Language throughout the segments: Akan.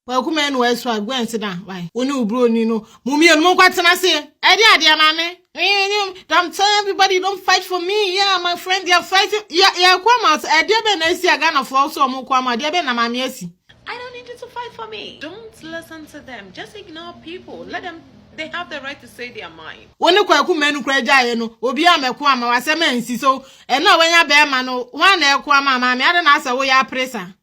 Kwaku mɛnu ɛso a gwen se da wai wo ne wo broni no mo mmienu mo nkɔ tena se ɛde adeɛ maame I'm telling everybody don't fight for me yeah my friend they are fighting yeah yeah kwa ma ɛdeɛ bɛ na esi agana fo so ɔmo kwa ma ɛdeɛ bɛ na maame esi I don't need you to fight for me don't listen to them just ignore people let them they have the right to say their mind wo ne kwaku mɛnu kura gyaeɛ no obi a mɛko ama wasɛm ansi so ɛno a wanya bɛɛma no ho a na ɛko ama maame ada na asɛ wo yɛ apere saa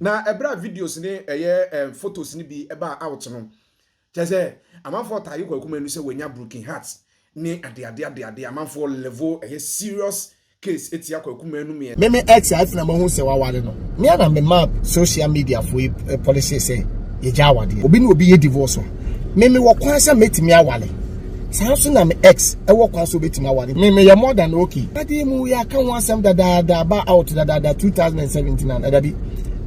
Na ɛberɛ a videos ne ɛyɛ photos no bi baa out no, kyerɛ sɛ amanfoɔ taage Kwaku Manu sɛ wanya broken heart ne adeade adeade, amanfoɔ level ɛyɛ serious case tia Kwaku Manu meɛ. Me me ex a ɛfena mahu sɛ waware no me a na me ma social media fo yi policy sɛ yɛgya awadeɛ obi ne obi yɛ divorce a me me wɔ kwan sɛ mɛtumi aware. saa nso na me ex ɛwɔ kwan so obetumi aware me meyɛ more than okay ɛde mu yɛ aka ho asɛm dadaada aba out dadaada 2017 na ɛda bi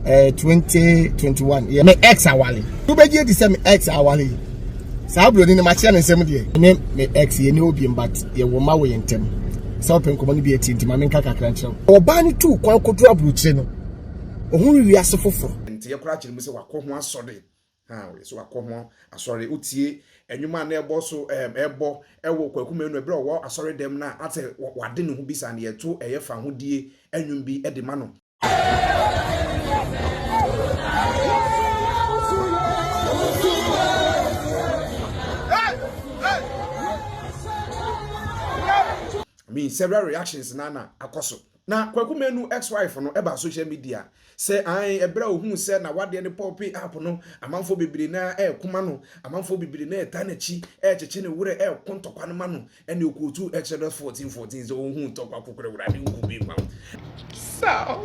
ɛɛ 2021 yɛ me ex aware wobɛgye adi sɛ me ex aware yi saa buroni no makyerɛ ne nsɛm deɛ ne me ex yɛ ne obi mbat yɛwɔ ma wɔ yɛn ntɛm sɛ wopɛ nkɔmmɔ no bi atie nti ma menka kakra nkyerɛ wo ɔbaa no tuu kwan kɔduru aburokyire no ɔhunu wiase foforɔ nti yɛkora akyerɛ mu sɛ wakɔ ho asɔre Na ɔyɛ sɛ wakɔ ho asɔre. Wotie nnwom a na ɛbɔ so ɛɛm ɛbɔ ɛwɔ Kwaku Manu ɛberɛ a ɔwɔ asɔre dɛm na asɛ wade ne ho bi saa no yɛto ɛyɛ fahodie nnwom bi de ma no. I mean several reactions na na akɔ so. Na Kwaku Manu ex wife no ɛbaa social media sɛ ae ɛberɛ a ɔhuu sɛ nawadeɛ no pɔɔpee app no amanfoɔ bebree no ara ɛreko ma no, amanfoɔ bebree no ara ɛtaa n'akyi ɛrekyekye ne werɛ ɛreko ntɔkwa no ma no ɛne ɔkootuu Exodus fourteen fourteen sɛ ɔnhuu ntɔkwa kokorɛ wura ne nku bi ma. So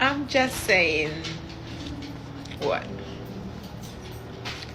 I'm just saying what.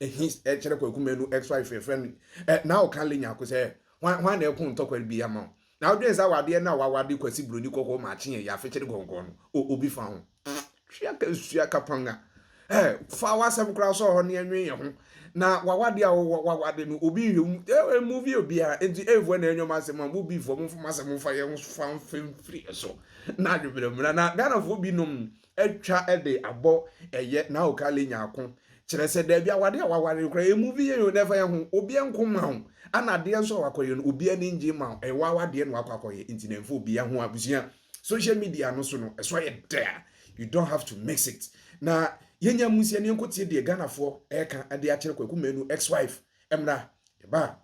Ehi kyerɛ Kwaku Manu X wife yɛfrɛ no eh, na ɔka Lenyako sɛ hwan hwan na ɛko ntɔkwari bi ama wo. Na wodwen sɛ awadeɛ no a wawade Kwasi Buroni kɔkɔɔ maakye yɛ yɛafekyere gɔngɔn no, o obi fa ho. Twe aka sua kapanga. Eh, fa w'asɛm koraa sɔɔ hɔ na yɛnwen yɛn ho. Na w'awadeɛ a wowɔ wawade no obi nhwɛ wo mu. Eh, eh movie obiara. Enti eh voa na ɛnyɛ ɔmo asɛm a, mo Bfoɔ momfa mo asɛm mfa yɛn ho fa mfiri so na adwebrɛ mmra. Na Ghanafoɔ binom atwa de abɔ ɛyɛ na ɔka lenya ako kyerɛ sɛ daabi awade a waware no koraa ɛmu vi yɛ yɛ nɛfa yɛ ho obiɛ nko ma wo ana adeɛ nso a wakɔyɛ no obi ani ngye ma wo ɛwɔ awadeɛ na wakɔ akɔyɛ nti na ɛmfa obi ho abusua social media no so no ɛsɔ yɛ dɛ a you don't have to mix it na yɛnya mu sɛ ne nko tie deɛ Ghanafoɔ ɛka ɛde akyerɛ kwaku manu ex wife Ɛmra yɛba a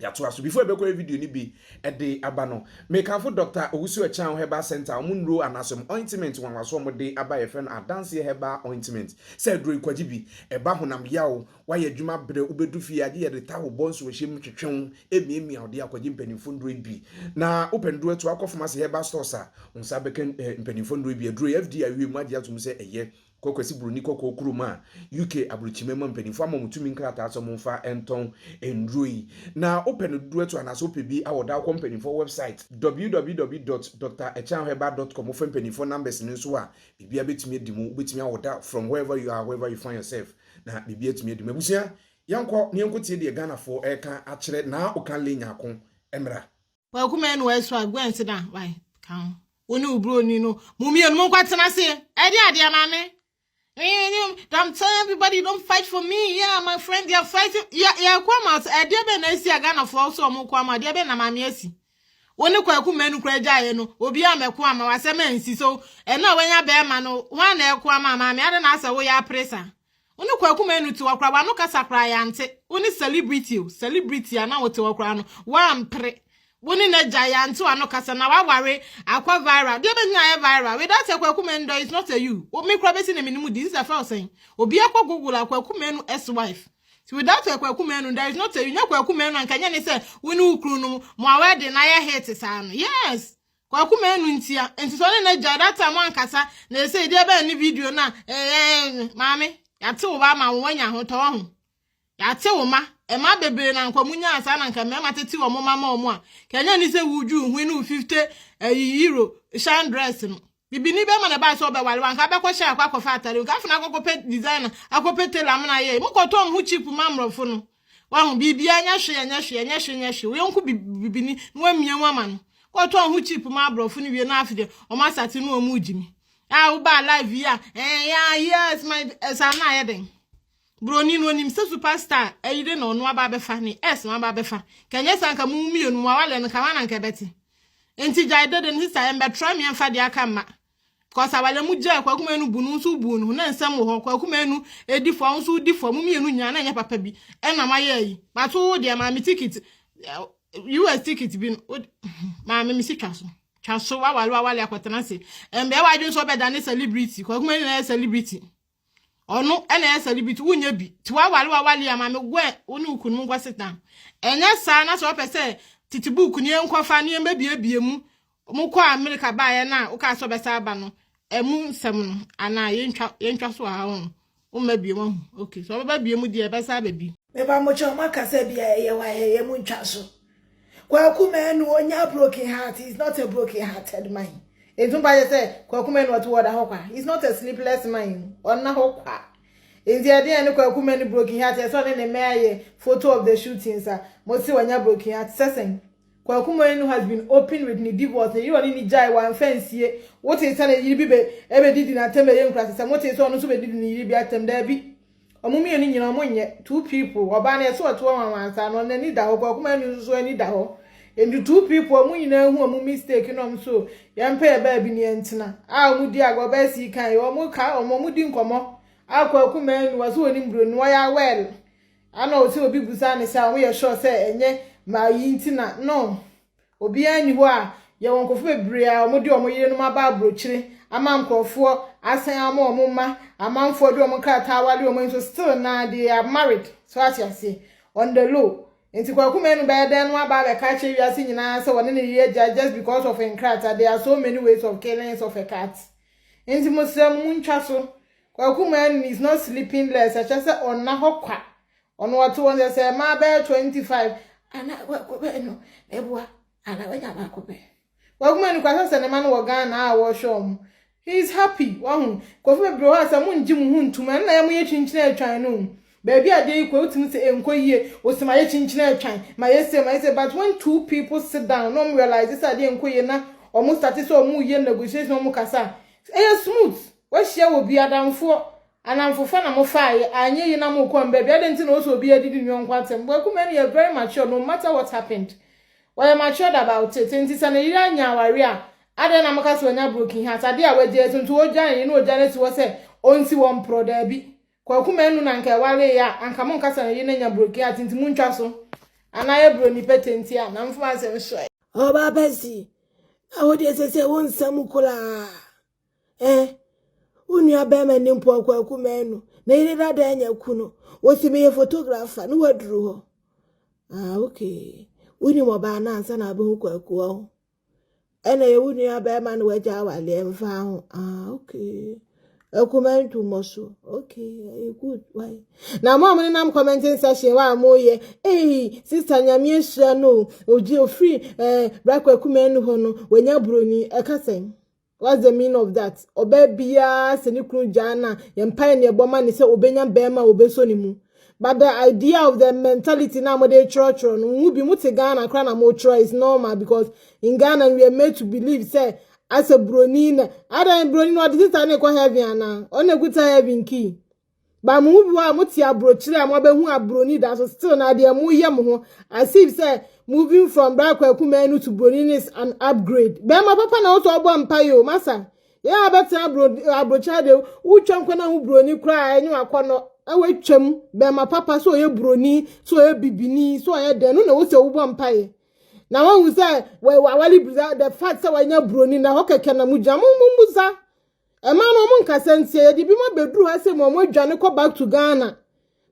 yɛatoa so. Before ɛbɛkɔ yɛ video no bi ɛde aba no, mekamfo Doctor Owusu Akyang Herbal Centre a wɔn nnuro anaasɛ wɔn ointment nwanwaso a wɔde aba a yɛfrɛ no Adanseɛ Herbal Ointment. Sɛ aduro yi kwagye bi, ɛba honam yaw, woayɛ adwuma brɛ, wobɛdu fie a gye yɛde ta wo bɔ nsuohyɛ mu twetwe wo, ɛmiamia wo deɛ a kwagye mpaninfoɔ nnuro yi bi. Na wopɛ nnuro atu akɔ pharmacy, herbal stores a wo nsa bɛka eh, mpaninfoɔ nnuro yi bi. Aduro yi FDA awie mu agye atom sɛ ɛyɛ kɔ Kwasi Buroni Kɔkɔɔ kurom a UK aburokyima mu mpanyimfo ama wɔn tumi nkrataa sɛ wɔmfa ntɔn nnuro yi. Na wopɛ no dodoɔ atu anaasɛ wopɛ bi a wɔda wokɔ mpanyimfoɔ wɛbsaet www dot Doctor Ɛkyɛn Herbal dot com wofrɛ mpanyimfoɔ numbers no nso a biribiara bɛtumi adi mu wobɛtumi awoda from wherever you are wherever you find yourself na biribiara atumi adi mu abusua yɛnkɔ na yɛnkɔtie deɛ Ghanafoɔ reka akyerɛ naa okanle nyako mmra. Kwaku mɛnu ɛso a gwen se da wae ka ho wo ne obroni no mo mmienu mo nkɔ tena se ɛde adeɛ maame I'm telling everybody don't fight for me yeah my friend they are fighting yeah yeah come out ɛdeɛ bɛn na esi a Ghana fo so ɔmo kɔ ama ɛdeɛ bɛn na maame esi wo ne kwaku mɛnu kura gya yɛ no obi a mɛko ama wasɛm ɛnsi so ɛna wanya bɛrima no wɔn na ɛko ama maame ada na asɛ wo yɛ apresa Wo ne Kwaku Manu te hɔ koraa w'ano kasa koraa yɛante, wo ne celebrity o, celebrity a na wote hɔ koraa no woampere, wo ne n'agya yɛante w'ano kasa na w'aware akɔ viral, deɛ bɛgyina ayɛ viral without a Kwaku Manu dɔ is not a you, wo me koraa bɛsi ne menim din sɛ fɛw sɛn, obiara kɔ google a Kwaku Manu ex wife, nti without a Kwaku Manu there is not a you, nyɛ Kwaku Manu a nka nyɛ ne sɛ wo ne wo kunu no mo awɛden ayɛ hit saa no, yes Kwaku manu ntia nti sɛ ɔne n'agya that time wankasa na ɛsɛ ɛdi ɛbɛn ne video no a ɛɛ maame yɛate wo ba ama wo wanya ahotɔ wɔ ho yɛate wo ma ɛma bebree na nkwa mu nyaa saa na nka mmarima tete wɔ mo ma ma ɔmo a kɛnyɛ ni sɛ wudwu hui no fifte ɛyi yiro shan dress no bibi ni bɛma na ɛbaa sɛ ɔbɛwale wanka bɛkɔ hyɛ akɔ akɔfa atare nka afei na akɔkɔpɛ designer akɔpɛ tailor amena yɛ mokɔtɔ ɔmo ho cheap ma mmorɔfo no Wahu, biribiara nyɛ hwee, ɛnyɛ hwee, ɛnyɛ hwee, ɛnyɛ hwee. Wo yɔnko bi bibini na wamia mu ama no. Kɔtɔn ho chip ma aborɔfo no wie na afei deɛ wɔn asate no wɔn regye mi. A wobaa live yi a, eh, yeah, yes, my, ɛsaa eh, no ayɛ dɛn? Buroni no onim sɛ superstar ayire na ɔno aba abɛfa ne ɛs no aba abɛfa. Ka ɛnyɛ saa nka mo mmienu mo awale no ka hɔ na nka ɛbɛte. Nti gyae dede no sista ɛmbɛtra me ɛmfa deɛ aka mma. Because awale mo gyae kwaku manu bu no nso bu no na nsɛm wɔ hɔ kwaku manu edi fɔ nso odi fɔ mo mmienu nyinaa na nyɛ papa bi ɛna mo ayɛ yi but wo deɛ maame ticket US ticket bi no maame me si twa so twa so wawale wawale akɔtena se ɛnbɛɛ wadwene sɛ ɔbɛda ne celebrity kwaku manu na yɛ celebrity Ɔno na ɛyɛ sɛde bi nti wonyɛ bi nti wawale wawale ama me wɛ wo ne wo kunu mu nkɔ seta. Ɛnyɛ saa na sɛ ɔpɛ sɛ tete buuku ne nkɔfa ne yɛn bɛbiebie mu mo kɔ Amerika baeɛ no a wokaa sɛ ɔbɛsa aba no ɛmu nsɛm no anaa yɛntwa yɛntwa so aha ho womma bie mu ahu ok sɛ ɔbɛba bie mu deɛ ɛbɛsa aba bi. Meba mo kyɛ ɔmo aka sɛ bia ɛyɛ wayɛ yɛ mo ntwa so. Kwaku Manu ɔnya broken heart he is not a broken hearted man nti mo paakyɛ sɛ Kwaku Manu ɔte wɔ ɔda hɔ kwa he is not a sleepless man ɔnna hɔ kwa nti ɛde ɛne Kwaku Manu broken heart ɛsɛ ɔne ne mmɛ ayɛ photo of the shooting sa mo se ɔnya broken heart sɛsɛn Kwaku Manu has been open with ne divorce ne yere ɔne ne gyae wamfa nsie wotee sɛ ne yere bi bɛ ɛbɛdidi n'atam bɛyɛ nkurasɛsɛ motee sɛ ɔno nso bɛdidi ne yere bi atam daabi Ɔmo mmienu nyina ɔmo nyɛ two people ɔbaa no yɛse ɔte hɔ wanwansa no n'ani da hɔ paa ɔkuma no nso ani da hɔ nti two people ɔmo nyina ahu ɔmo mistake na ɔmo so yɛn pɛ yɛ baabi ne yɛn tena a ɔmo di agorɔ bɛyɛ sii kan yɛ ɔmo ka ɔmo ɔmo di nkɔmɔ a kwaku mmaa ni wɔse wɔnim buro no wɔyɛ awɛl ana ɔse obi busa ne sɛ a ɔmo yɛ sure sɛ ɛnyɛ maa yi nti na no Obiara nni hɔ a Yɛwɔ nkurɔfo bebree a wɔde wɔn yerenom aba abrokyire ama nkurɔfoɔ asan ama wɔn mma amanfoɔ de wɔn nkrataa aware wɔn nso still naa they are married so ate aseɛ on the low nti Kwaku Manu bɛyɛ dɛn no aba abɛka akyerɛ wiase nyinaa sɛ wɔne no reyɛ agya just because of nkrataa there are so many ways of killings of a cat nti mo srɛ mo mu ntwa so Kwaku Manu is not sleeping less ɛkyɛ sɛ ɔnna hɔ kwa Ɔno ɔte hɔ sɛ sɛ mmaa bɛyɛ twenty five anaa baako pɛ no na ɛboa anaa wanya baako pɛ. Wagu m'ani kwa sɛ sɛ ne mma no wɔ Ghana a wɔhwɛ wɔn. He is happy wahu. Nkurɔfo bebree hɔ a sɛ mongye mo ho ntom ɛno na ɛyɛ moyɛ kyinkyini atwan no o. Baabi a adeɛ yi kɔ wotumi sɛ ɛnkɔ yie o sɛ mayɛ kyinkyini atwan mayɛ sei mayɛ sei but when two people sit down na wɔn realise sɛ adeɛ nkɔ yie na wɔn starte sɛ wɔn reyɛ negotiation wɔn kasa a ɛyɛ smooth. Wahyia wɔ bi adamfoɔ Anamfofa na mo faa yɛ a ɛnyɛ yi na mo kɔ mbɛ bi adɛn nti na ɔsɛ obiaa didi ne yɔnko atɛm Kwaku Manu yɛ very mature no matter what happened ɔyɛ matured about it nti sɛ ne yere anya awareɛ a adɛn na mo ka sɛ wanya broken heart adeɛ a wagyae so nti ɔgya ne yere na ɔgya no asi hɔ sɛ ɔnsi hɔ mporɔ daabi Kwaku Manu na nka ɛwareeɛ a anka mo nka sɛ ne yere no anya broken heart nti mo ntwa so anaa yɛ broni pɛtɛ nti a Anamfofa asɛm soɛ. Ɔbaa pa si. Na wo deɛ sesei wo nsam koraa. Eh, wo nua bɛrima ni mpo ɔkɔ aku mɛnu. Ne yere dada anya kunu. Wɔsi meyɛ photographer ne waduru hɔ. Ah, okay. Wonim ɔbaa no ansa na abɛhu kɔ aku wɔ ho. Ɛna yɛ wo nua bɛrima na wagya awaleɛ mfa ho. Ah, okay. Akuma ntu mmɔ so. Okay, good. Why? Na mo a mo nenam commenting section wɔ a mo yɛ. Ei, sister nyame ahyira no. Ogye ofiri eh, brakɔ akuma anu hɔ no, wanya buroni. Ɛka sɛn? What's the meaning of that? Ɔbaa biara sɛ ne kunu gyaa na yɛn mpae ne ɛbɔ ma ne sɛ obenya barima a obeso ne mu. But the idea of the mentality na mode kyerɛkyerɛ no, nhu bi mote Ghana kra na mokyerɛ is normal because in Ghana we are made to believe sɛ asɛ broni na adan broni no ɔde sister no kɔ heaven anaa? Ɔno na ekuta heaven key. But mo mu bi wa mo te abrokyire a mo abehu abroni da so still na deɛ mo yɛ mo ho as if sɛ moving from bra kwaku mɛnu to broni is an upgrade. Bɛrima papa na wosɔ ɔbɔ mpa yo masa. Yɛ abɛtena abro abrokyire de wotwa nkɔ na ho broni kura enye wakɔnɔ ɛwɔ atwam bɛrima papa so ɔyɛ broni so ɔyɛ bibini so ɔyɛ dɛn no na wosɛ wobɔ mpa yɛ. Na wahu sɛ wawale broni the fact sɛ wanya broni na hɔ kɛkɛ na mo gyina mo mo musa Ɛmaa no ɔmo nkasa ntia yɛde bi ma beduru ha sɛ mo ɔmo adwane kɔ back to Ghana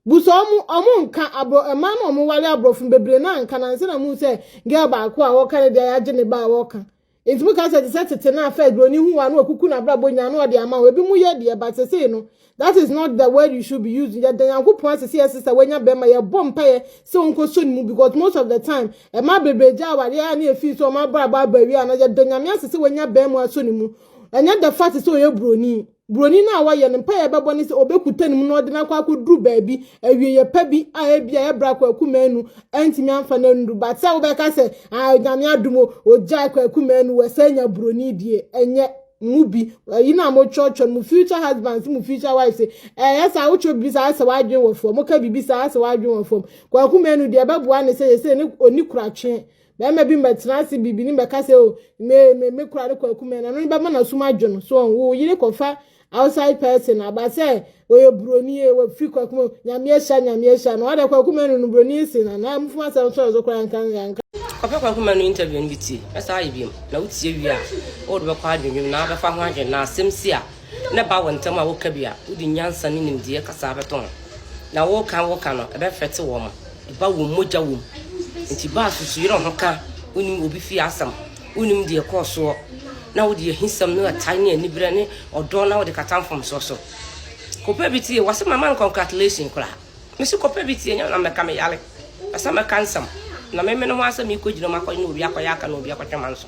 busa ɔmo ɔmo nka abro ɛmaa no ɔmo wale aborɔfo bebree na nka na nse na mo sɛ girl baako a wɔka ne deɛ yɛagye ne ba a wɔka nti mo ka sɛ te sɛ tete na afɛ buroni hu wa no ɔkuku na abrabɔ nyinaa no ɔde ama wo ebi mo yɛ deɛ ba sesei no That is not the word you should be using. Yɛda Nyankopɔn ase sɛ yɛsesa wanya bɛrima yɛbɔ mpaeɛ sɛ ɔnkɔsɔ ne mu because most of the time ɛma bebree gya awareɛ a ne ɛfii sɛ ɔma abrabɔ aba awie ana yɛda Nyame ase sɛ wanya bɛrima asɔ ne mu ɛnyɛ the fact sɛ ɔyɛ buroni buroni no a wɔyɛ no mpaeɛ bɛbɔ ne sɛ ɔbɛkuta ne mu na ɔde no akɔ akɔduru baabi awieyɛ pa bi a ebi a ɛbrɛ akɔ akuma anu ɛntumi amfa no anuru but sɛ wobɛka sɛ ah Nyame adom o ɔgyae kɔ akuma anu wɔ sɛ anya buroni deɛ ɛnyɛ mu bi ɛyi na mo kyerɛkyerɛ mo future husbands mo future wives ɛyɛ sɛ awotwerɛ bibi saa sɛ wadwen wɔ fam mo ka bibi saa sɛ wadwen wɔ fam kwaku mmienu deɛ ɛbɛboa ne sɛ yɛ sɛ ne oni kuratwe bɛrima bi mbɛtena ase bibi ne mbɛka sɛ o me me me kura ne kwaku mmienu ɛno ne bɛma n'asum adwo no so wɔn wo yere kɔfa outside person aba sɛ Wɔyɛ buroni ye wɔfiri kwaku mu nyame ahyira nyame ahyira no ɔde kwaku manu no buroni nsi na na mufuma asɛm sɔre so koraa nka nka. Ɔpɛ kwaku manu interview no bi tie na saa ayɛ biom na wotie wie a wode bɛkɔ adwendwem na abɛfa ho adwene na asɛm si a na ɛba wo ntɛm a woka bi a wode nyansa ne nimdeɛ kasa abɛto ho na woka woka no ɛbɛ fɛte wɔ ma ɛba wom mogya wom nti baa susu yerɛ ho ka wonim obi fie asɛm wonim deɛ kɔɔ soɔ na wode ahisɛm ne atae ne aniberɛ ne ɔdɔ na wode kata mfomsoɔ so. Kɔpɛ bi tie wase ma man congratulation koraa mese kɔpɛ bi tie nyɛ na mɛka me yare pɛsɛ mɛka nsɛm na memene ho asɛ mekɔ gyina mu akɔ na obi akɔyɛ aka na obi akɔtwe man so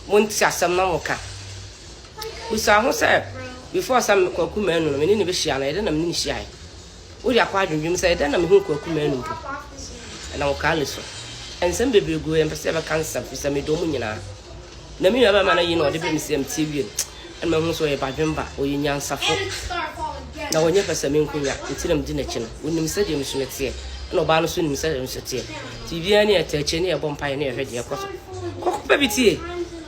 monti asɛm na moka busa ho sɛ before sɛ kwaku manu no mene ne bɛhyia no ɛdɛ na mene ne hyiae Woyɛ akɔ adwendwen mu sɛ, 'Dɛn na me ho Kwaku Manu mpo? Ɛnam Ɔkaa no so. Nsɛm bebree gu hɔ, yɛmpɛ sɛ yɛbɛka nsɛm, ɛfiri sɛ medɔ wɔn nyinaa. Na me nuabarima no ayi no a ɔde brɛɛ me sɛ mtie wie no, na mahu sɛ ɔyɛ badwemba, ɔyɛ nyansafo, na ɔnyɛ pɛ sɛ menko nya, enti na medi n'akyi no. Ɔnim sɛdeɛ me suno teɛ, ɛnna ɔbaa no nso nim sɛdeɛ me suno teɛ, enti biribiara nni yɛtaa akyire na yɛbɔ mpaeɛ na yɛhwɛ deɛ ɛrekɔ so. Kɔkɔbɔ bi tie!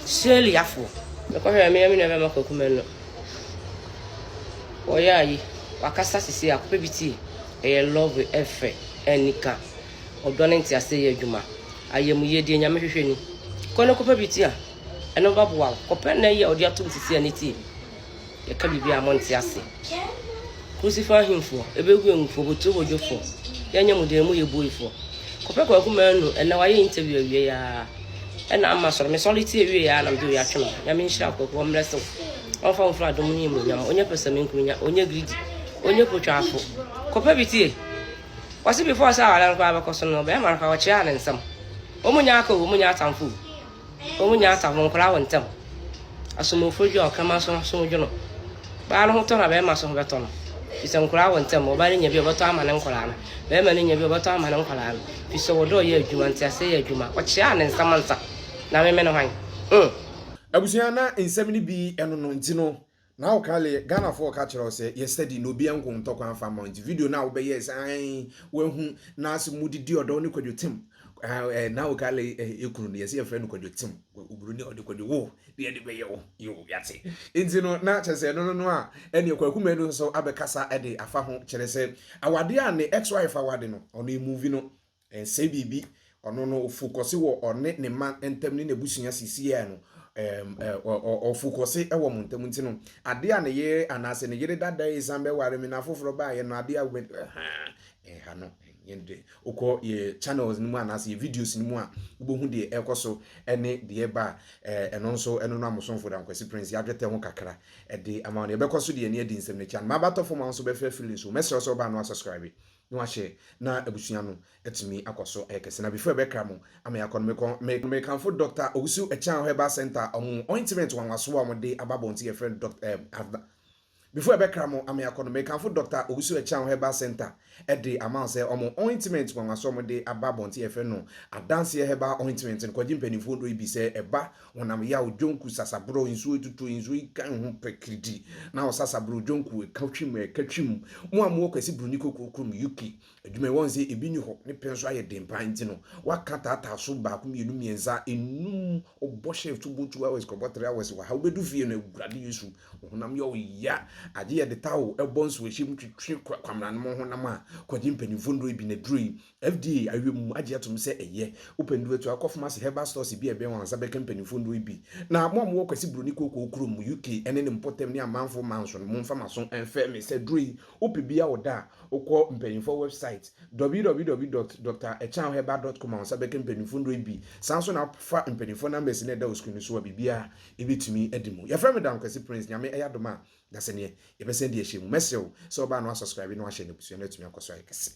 Shirley Afoɔ. Mekɔhwɛɛ me ne me nuabarima Kwaku Manu Ɔyɛ ayi wakasa sisi a akɔpɛ bi tie ɛyɛ love ɛfɛ ɛnika ɔdɔ ne nti ase yɛ adwuma ayɛ mu yie deɛ nyame hwehwɛ ni kɔ ne kɔpɛ bi tie a ɛno ba boa kɔpɛ na ɛyɛ ɔde atom sisi a ne tie bi yɛka biribi a mo nti ase kusifa ahemfoɔ ebe hu engufoɔ botire hɔ dwofoɔ yɛnyɛ mu deɛ mu yɛ buoifoɔ kɔpɛ kɔ akuma anu ɛna wayɛ interview awie yaa ɛna ama sɔre me sɔre tie wie ya na mede oya twem nyame nhyira akwaku ɔmmerɛ sew ɔmfa wo mfra dom ne mu nyam onye pɛsɛ me nkunya onye greedy onye potwafo kɔpɛ bi tie wɔse before sɛ awara no koraa bɛkɔ so no bɛrima no koraa wɔkyerɛ ne nsɛm wɔn nyɛ aka wɔn nyɛ atamfo wɔn nyɛ atamfo nkora wɔ ntɛm asomofo dwa ɔkama so so dwo no baa no ho tɔ na bɛrima so ho bɛtɔ no bisɛ nkora wɔ ntɛm ɔbaa no nya bi ɔbɛtɔ ama ne nkora no Bɛɛma no nya bi a ɔbɛtɔ ama ne nkwadaa no, fisɛ ɔdɔ ɔyɛ adwuma, nteaseɛ yɛ adwuma, ɔkyeaa ne nsam nsa, na meme no hwan? Huh! Abusua na nsɛm no bi ɛno no nti no na wo kale Ghana foɔ ka kyerɛ wo sɛ yɛ study na obi ɛnko ntɔ kwan mfa mma wo nti video no a wo bɛyɛɛ sɛ ae wahu na se mo didi ɔdɔ ne kwadwo tem Ah, eh, na o kale eh, ekunu no yɛsɛ yɛfrɛ no kwadwo tem oburoni ɔde kwadwo wo deɛ de bɛyɛ wo yo yɛate nti no na kyerɛ sɛ ɛno no no a ɛne kwakumɛ no nso abɛkasa de afa ho kyerɛ sɛ awadeɛ a ne ex wife awade no ɔno emuvi no ɛnsɛ biribi ɔno no ofokɔse wɔ ɔne ne ma ntam ne n'abusua sisiɛ no ɛm ɛ ɔfokɔse wɔ mo ntam nti no adeɛ a ne yere anaasɛ ne yere dada yi san bɛware me na afoforɔ baayɛ no adeɛ a wobɛ ɛha no yɛn de wokɔ yɛ channels no mu anaasɛ yɛ videos no mu a wobɛhu deɛ ɛrekɔ so ne deɛ ɛba a eh, ɛno nso ɛno no amosomfo da nkwasi prince yɛadwetɛ ho kakra ɛde ama wo no yɛbɛkɔ so deɛ ne adi nsɛm no akyi anoma abatɔ fam a nso bɛfrɛ feelings o mɛsrɛ sɛ wobaa no asubscribe na wahyɛ na abusua no atumi akɔ so ɛyɛ kɛse na before ɛbɛkra mo ama yɛakɔ no mekɔ me mekamfo dr owusu akyan herbal center ɔmo ointment wanwaso a ɔmo de aba bɔnte yɛfrɛ no dr eh, Before ɛbɛkra mo ame akɔ no, mekamfo Dɔkta Owusu Ɛkyeaho Herbal Centre de ama wo sɛ wɔn ointment nwanwa so a wɔde aba abɔnten a yɛfrɛ no Adanseɛ Herbal Ointment no, kɔgye mpanimfoɔ nnuro yi bi sɛ ɛba honam yaw, dwonku, sasaborɔ, nsuo atutuo, nsuo yikan ho pɛ, kiridi, na ɔsasaborɔ, dwonku, ɛka twim, ɛka twim, mo a mowɔ Kwasi Broni Kokorom, UK, adwuma yi wɔn sɛ ebi ni hɔ ne pɛ nso ayɛ den paa nti no waka taataa so baako mmienu mmiɛnsa enum ɔbɔ shift wobɔ two hours kɔbɔ three hours wɔ ha wobɛdu fie no awurade yesu honam yɛ ɔya agye yɛde ta o ɛbɔ nso ɛhyɛ mu twitwi kwamena no mo honam a kɔgye mpanimfoɔ nnuro yi bi na duro yi fda awie mu agye atom sɛ ɛyɛ wopɛ nnuro atu akɔ famasi herbal stores bi a ɛbɛn wɔn ansa bɛka mpanimfoɔ nnuro yi bi na mo a mowɔ kwasi buroni kookoo kurom uk ɛne ne mpɔtam ne amanfoɔ manso no momfa maso ɛmfɛ me sɛ duro yi Wopɛ bi a wo da a, wokɔ mpanyimfoɔ wɛbsaet, www dot Doctor Ɛkyɛn Herbal dot com a wo nsa bɛka mpanyimfoɔ nnuro yi bi. Saa nso na fa mpanyimfoɔ numbers no a ɛda wo screen no so a biribiara a ɛbɛtumi adi mu. Yɛfrɛ me Dankwasi Prince, Nyame ɛyɛ adom a Daseneɛ yɛbɛsan adi ahyia mu. Mɛsrɛ wo sɛ wobaa na woasubscribe na woahyɛ na abusua no atumi akɔ so ayɛ kɛse.